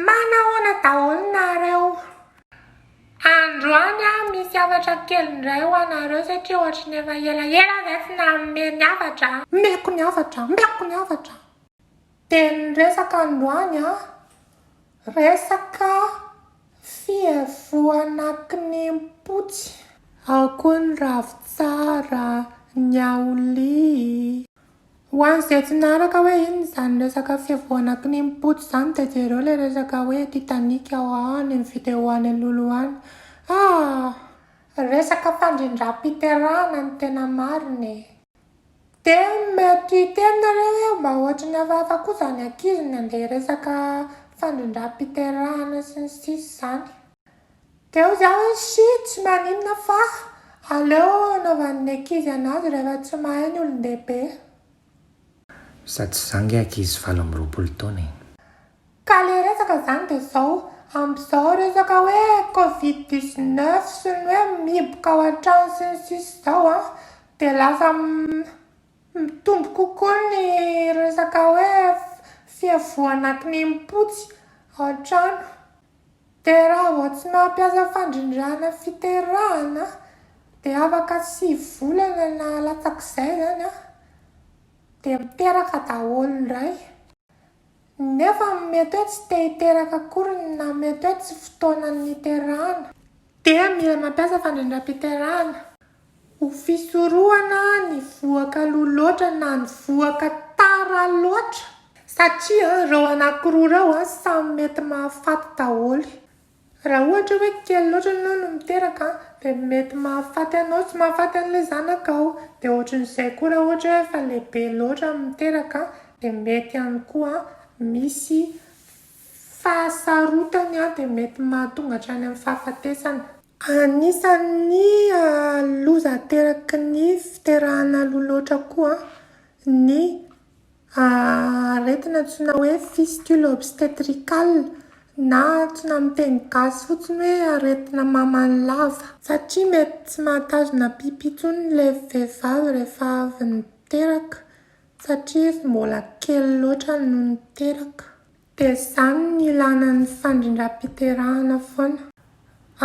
Manahoana daholo nareo? Androany aho misy hafatra kely indray ho anareo satria ohatry ny efa elaela zay tsy nanome ny hafatra. Omeko ny hafatra, omeko ny hafatra. Dia ny resaka androany an, resaka fihevohana kinempotsy. Ao koa ny ravintsara, ny aolia. Ho an'izay tsy niaraka hoe inona izany resaka fiavoana kinimpotso izany dia jereo ilay resaka hoe Titanic ao any amin'ny vidéo any alohaloha any. Ah! Resaka fandrindram-piterahana no tena marina e. Dia mety hiteny nareo hoe mba ohatry ny hafahafa koa izany ankizy ny andeha hiresaka fandrindram-piterahana sy ny sisa izany. Teo za hoe shy tsy maninona fa aleo anaovan'ny ankizy anazy rehefa tsy mahay ny olondehibe. Sady zangy ankizy valo amby roapolo taona e. Ka le resaka zany de zao, amzao resaka hoe covid dix neuf sy ny hoe mihiboka ao antrano sy ny sisa zao an, de lasa mitombo kokoa ny resaka hoe fiavohana kininim-potsy ao antrano. Terahao tsy mampiasa fandrindrana fiterahana dia afaka sivy volana na latsak'izay izany dia miteraka daholo indray nefa mety hoe tsy te hiteraka akory na mety hoe tsy fotoana niterahana dia mila mampiasa fandrindram-piterahana. Ho fisorohana ny vohoka aloha loatra na ny vohoka tara loatra satria ireo anankiroa ireo samy mety mahafaty daholo. Raha ohatra hoe kely loatra ianao no miteraka dia mety mahafaty anao sy mahafaty an'ilay zanakao. Dia ohatran'izay koa raha ohatra hoe efa lehibe loatra miteraka dia mety ihany koa misy Fahasarotany an dia mety mahatonga hatrany amin'ny fahafatesana. Anisan'ny loza ateraky ny fiterahana aloha loatra koa ny aretina antsoina hoe fistule obstetricale na antsoina amin'ny teny gasy fotsiny hoe aretina maman'ny lava satria mety tsy mahatazona pipi intsony ilay vehivavy rehefa avy niteraka Satria izy mbola kely loatra no niteraka. Dia izany no ilana ny fandrindram-piterahana foana.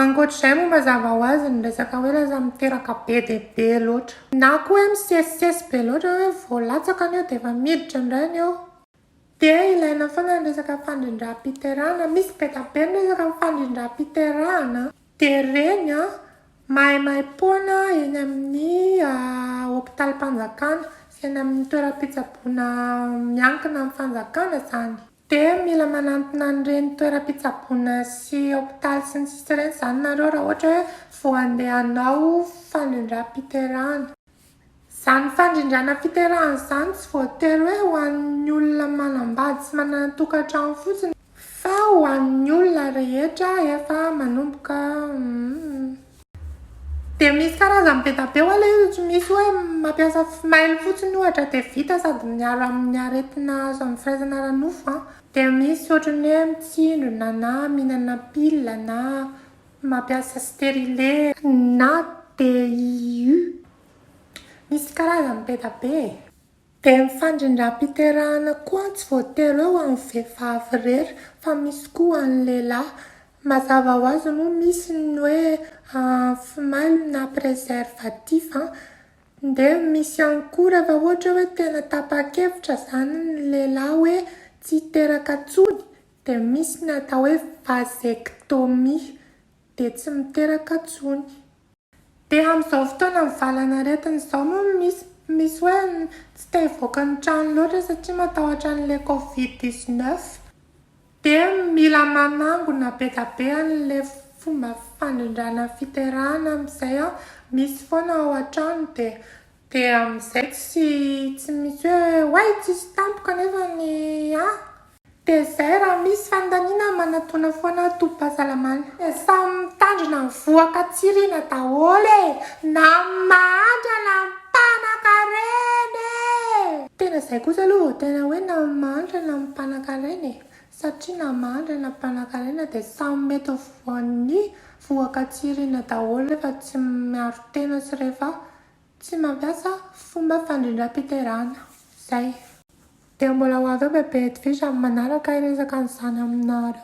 Ankoatra izay moa mazava ho azy ny resaka hoe lasa miteraka be dia be loatra. Na koa hoe misesisesy be loatra hoe vao latsaka ny eo dia efa miditra indray ny eo. Dia ilaina foana ny resaka fandrindram-piterahana, misy be dia be ny resaka fandrindram-piterahana. Dia reny an, maimaimpoana eny amin'ny hopitalim-panjakana sy eny amin'ny toeram-pitsaboana miankina amin'ny fanjakana izany. Dia mila manantona an'ireny toeram-pitsaboana sy hopitaly sy ny sisa ireny izany nareo raha ohatra hoe vao handeha hanao fandrindram-piterahana. Izany fandrindrana fiterahana izany tsy voatery hoe ho an'ny olona manambady sy manana tokantrano fotsiny fa ho an'ny olona rehetra efa manomboka Dia misy karazany be da be hoa ilay izy, tsy misy hoe mampiasa fimailo fotsiny ohatra dia vita sady miaro amin'ny aretina azo amin'ny firaisana ara-nofo an, dia misy ohatran'ny hoe mitsindrona na mihinana pilina na Mampiasa stérile na DIU. Misy karazany be da be e. Dia ny fandrindram-piterahana koa tsy voatery hoe ho an'ny vehivavy irery fa misy koa ho an'ny lehilahy. Mazava ho azy moa misy ny hoe antimailo na préservatif an. Dia misy ihany koa rehefa ohatra hoe tena tapa-kevitra izany ny lehilahy hoe tsy hiteraka intsony Dia misy ny atao hoe vasectomie, dia tsy miteraka tsony. Dia amin'izao fotoana mivalana aretina izao moa misy misy hoe tsy te hivoaka ny trano loatra satria matahotra an'ilay covid dix neuf. Dia mila manangona be dia be an'ilay fomba fandrindrana ny fiterahana amin'izay an, misy foana ao an-trano dia dia amin'izay tsy tsy misy hoe oay tsisy tampoka nefa ny an! Tezay raha misy fandaniana manatona foana tobim-pahasalamana. Samy mitandrina ny vohoka tsy riana daholo e! Na ny mahantra na ny mpanankarena e! Tena izay kosa aloha vao tena hoe na ny mahantra na ny mpanankarena e! Satria na mahantra na mpanankarena dia samy mety ho voan'ny vohoka tsy riana daholo rehefa tsy miaro tena sy rehefa tsy mampiasa fomba fandrindram-piterahana. Izay. Dia mbola ho avy eo bebe hetivisa amin'ny manaraka hiresaka an'izany aminareo.